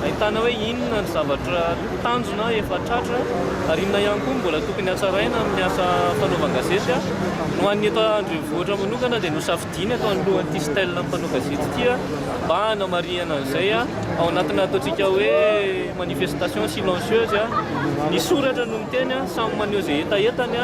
Ahitana hoe inona ny zavatra tanjona efa tratra ary inona ihany koa no mbola tokony hatsaraina amin'ny asa fanaovan-gazety. Ho an'ny eto an-drenivohitra manokana dia nosafidiana tao anoloan'ity style mpanao gazety ity mba hanamarihana an'izay ao anatina ataontsika hoe manifestation silencieuse. Ny soratra no miteny, samy maneho izay hetahetany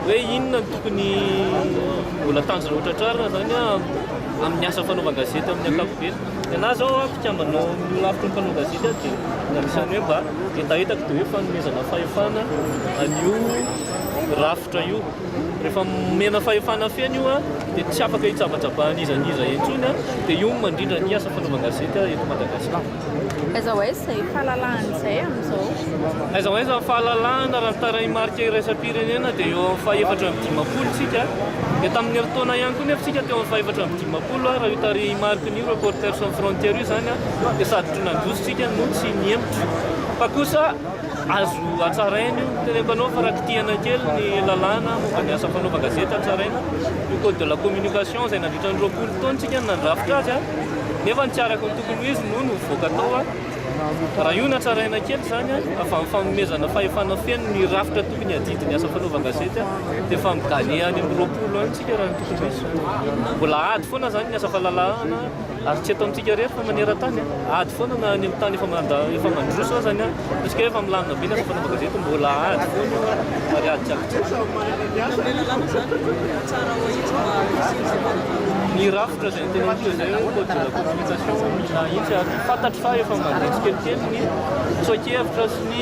hoe inona no tokony mbola tanjona ho tratrarina izany amin'ny asa fanaovan-gazety amin'ny ankapobeny. Ny anah zao a mpikambana ao amin'ny lafiny mpanao gazety a dia anisan'ny hoe mba hetahetako dia hoe fanomezana fahefana an'io rafitra io. Rehefa omena fahefana feno io a dia tsy afaka hitsabajabahan'iza n'iza intsony a dia io no mandrindra ny asa fanaovan-gazety a eto Madagasikara. Aiza ho aiza izay fahalalahana izay amin'izao? Aiza ho aiza ny fahalalahana raha ny tarehimarika iraisam-pirenena dia eo amin'ny fahefatra amby dimampolo isika dia tamin'ny herintaona ihany koa nefa isika teo amin'ny fahefatra amby dimampolo. Dimampolo Ar io tarehimarikiny io Reporters Sans Frontières io izany dia sady tsy nandroso isika no tsy nihemotra fa kosa azo hatsaraina io ny tena mpanao fa raha kitihana kely ny lalàna momba ny asa fanaovan-gazety hatsaraina io code de la communication izay nandritra ny roapolo taona isika no nandrafitra azy nefa ny tsy araka ny tokony ho izy no nivoaka tao raha io no hatsaraina kely izany avy amin'ny fanomezana fahefana feno ny rafitra tokony hadidy ny asa fanaovan-gazety dia efa mi-gagner any amin'ny roapolo any Mbola ady foana izany ny asa fahalalahana ary tsy eto amintsika irery fa maneran-tany. Ady foana na any amin'ny tany efa efa mandroso aza ny ataontsika hoe efa milamina be ny asa fanaovana gazety, mbola ady foana io ary ady tsy ampy-tsiny. Ny rafitra izay notenenintsika izay hoe code de la communication mila ahitsy ary fantatro fa efa mandeha tsikelikely ny tsoa-kevitra sy ny.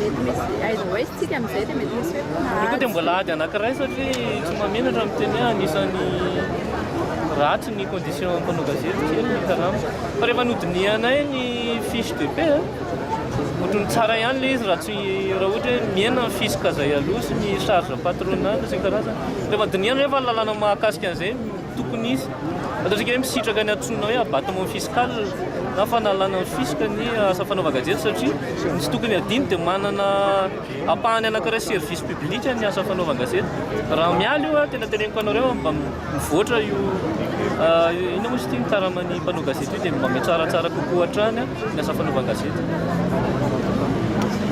Mety misy aiza ho aiza tsika amin'izay dia mety misy hoe mpinahary. Ny koa dia mbola ady anankiray satria tsy mahamenatra ny miteny hoe anisan'ny ratsy ny conditions mpanao gazety kely ny karama. Fa rehefa nodinihanay ny fiche de paie ohatran'ny tsara ihany ilay izy raha tsy raha ohatra hoe mihena ny fisc izay aloha sy ny charge patronale sy ny karazany. Rehefa dinihana nefa ny lalàna mahakasika an'izay Tokony hisy, fantatsika hoe misitraka ny antsoina hoe abattement fiscal na fanalana ny fisc ny asa fanaovan-gazety satria ny tsy tokony hadino dia manana ampahany anankiray service public ny asa fanaovan-gazety. Raha miala io aho, tena teneniko anareo mba mivoatra io inona moa izy ity ny karaman'ny mpanao gazety io dia mba mihatsaratsara kokoa hatrany ny asa fanaovan-gazety.